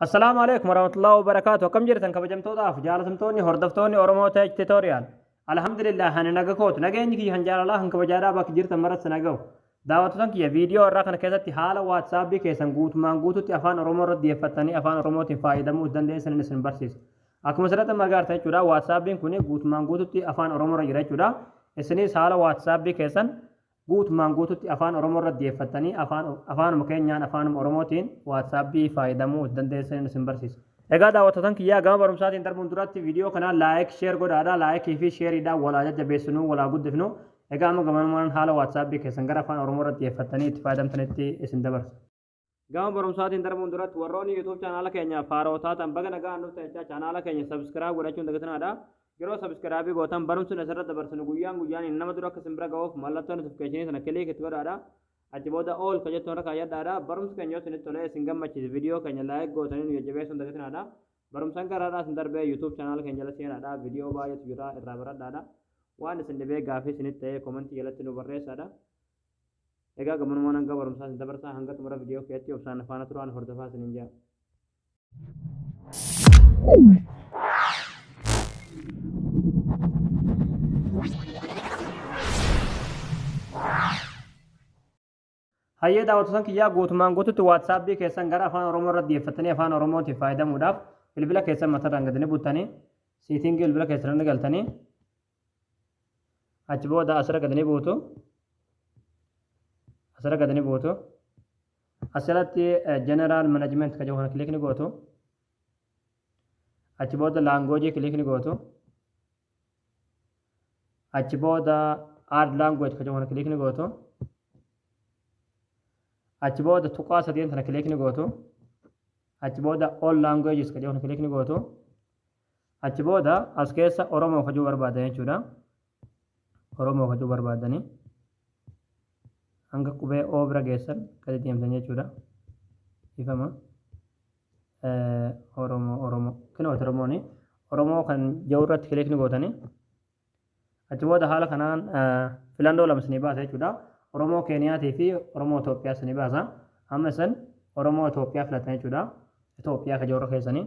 Assalaamu alaikum warahmatullahi wabarakaatu akkam jirtan kabajamtootaaf jaalatamtoonni hordoftoonni Oromoo Tech Tutorial Alhamdulillah ani naga kootu nageenyi kiyya kan jaalalaa kan kabajaadhaa bakki jirtan maratti nagahu daawwattotan kiyya viidiyoo irraa kana keessatti haala waatsaapii keessan guutumaan guututti afaan Oromoo irratti dhiyeeffattanii afaan Oromootiin fayyadamuu dandeessan isin barsiisa akkuma asirratti magaartan jechuudha waatsaapiin kun guutumaan guututti afaan Oromoo irra jira jechuudha isinis haala waatsaappii keessan Guutumaan guututti Afaan Oromoo irra diyeeffattanii afaanuma keenyaan, afaanuma Oromootiin WhatsApp faayadamuu utu dandeessaniin isin barsiisa. Egaa daawwattootan kiyyaa gama barumsaatiin darbuun duratti video kana like, share godhaadha. Like fi share dhaan wal haa jajjabeessinuu, wal haa guddifnu. Egaa amma gamanumaanan haala WhatsApp keessan gara Afaan Oromoo irra diyeeffattanii itti faayadamtanitti isin dabarsa. Gama barumsaatiin darbuun duratti warroonni YouTube chaanaala keenyaaf haaroo taatan baga nagaan dhuftan jechaa chaanaala keenya subscribe godhachuun dagatinaadha. Yeroo subscribe gootan barumsi asirratti dabarsinu guyyaan guyyaan nama dura akka isin bira ga'uuf mallattoo notification sana click itti godhaadha. Achi booda all ka jettu irra kaayyadhaadha. Barumsi keenya yoo isinitti tolee isin gammachiise viidiyoo keenya like gootanii nu jajjabeessuun dagatinaadha. Barumsaan garaadhaa isin darbee YouTube chaanaala keenya jala seenaadha. Viidiyoo baay'eetu jira irraa baradhaadha. Waan isin dhibee gaafii isinitti ta'ee komentii jalatti nu barreessaadha. Egaa gamanumaan hanga barumsaa isin dabarsaa hanga xumura viidiyoo keetti obsaan na faana turaan hordofaa isiniin jaa. Hayyee daawwattoota kiyyaa guutumaan guututti waatsaapii keessan gara afaan oromoo irra deeffattanii afaan oromootiif fayyadamuudhaaf bilbila keessan mataadhaan gadi ni buttanii siitingii bilbila keessan irra galtanii achi booda asirra gad ni buutu asirra gad ni buutu asirratti general management kan jedhu kana kilik ni gootu achi booda laangoojii kilik ni gootu achi booda aad laangooj kan jedhu kana kilik ni gootu achi booda tuqaa sadeen sana kilik ni gootu achi booda all languages kan jedhu kana kilik ni gootu Achi booda as keessa Oromoo kajuu barbaadan jechuudha. Oromoo kajuu barbaadanii hanga qubee O bira geessan gadi deemtan jechuudha. Ifama. Oromoo Oromoo. Kinooti Oromooni. Oromoo kan jiru irratti kilikni gootanii. Achi booda haala kanaan filannoo lama isinii baasa jechuudha. Oromoo Keeniyaatii fi Oromoo Itoophiyaa isinii baasa. Amma isin Oromoo Itoophiyaa filatan jechuudha. Itoophiyaa kan jiru keessanii.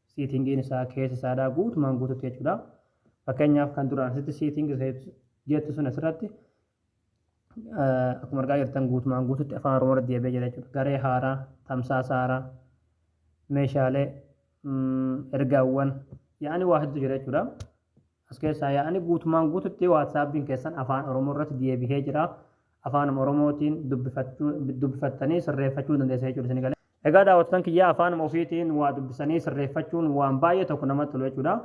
Seating-iin isaa keessa isaadhaa guutumaan guututti jechuudha. Fakkeenyaaf kan duraan asitti seating shapes jettu sun asirratti akkuma argaa jirtan guutumaan guututti afaan Oromoo irratti deebi'ee jira jechuudha. Garee haaraa, tamsaasa haaraa, meeshaalee, ergaawwan, yaa'anii waa hedduutu jira jechuudha. As keessaa yaa'anii guutumaan guututti waatsaappiin keessan afaan Oromoo irratti deebi'ee jira. Afaanuma Oromootiin dubbifattanii sirreeffachuu dandeessa jechuudha isin galee. Egaa daawwattotan kiyyaa afaanuma ofiitiin waa dubbisanii sirreeffachuun waan baay'ee tokko namatti tolu jechuudha.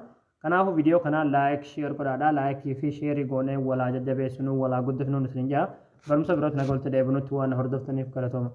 Kanaafuu viidiyoo kana like share godhaadha. Like fi share goonee wal haa jajjabeessinuu wal haa guddifnuun isiniin jedha. Barumsa birootti nagaan walitti deebinutti waan na hordoftaniif galatooma.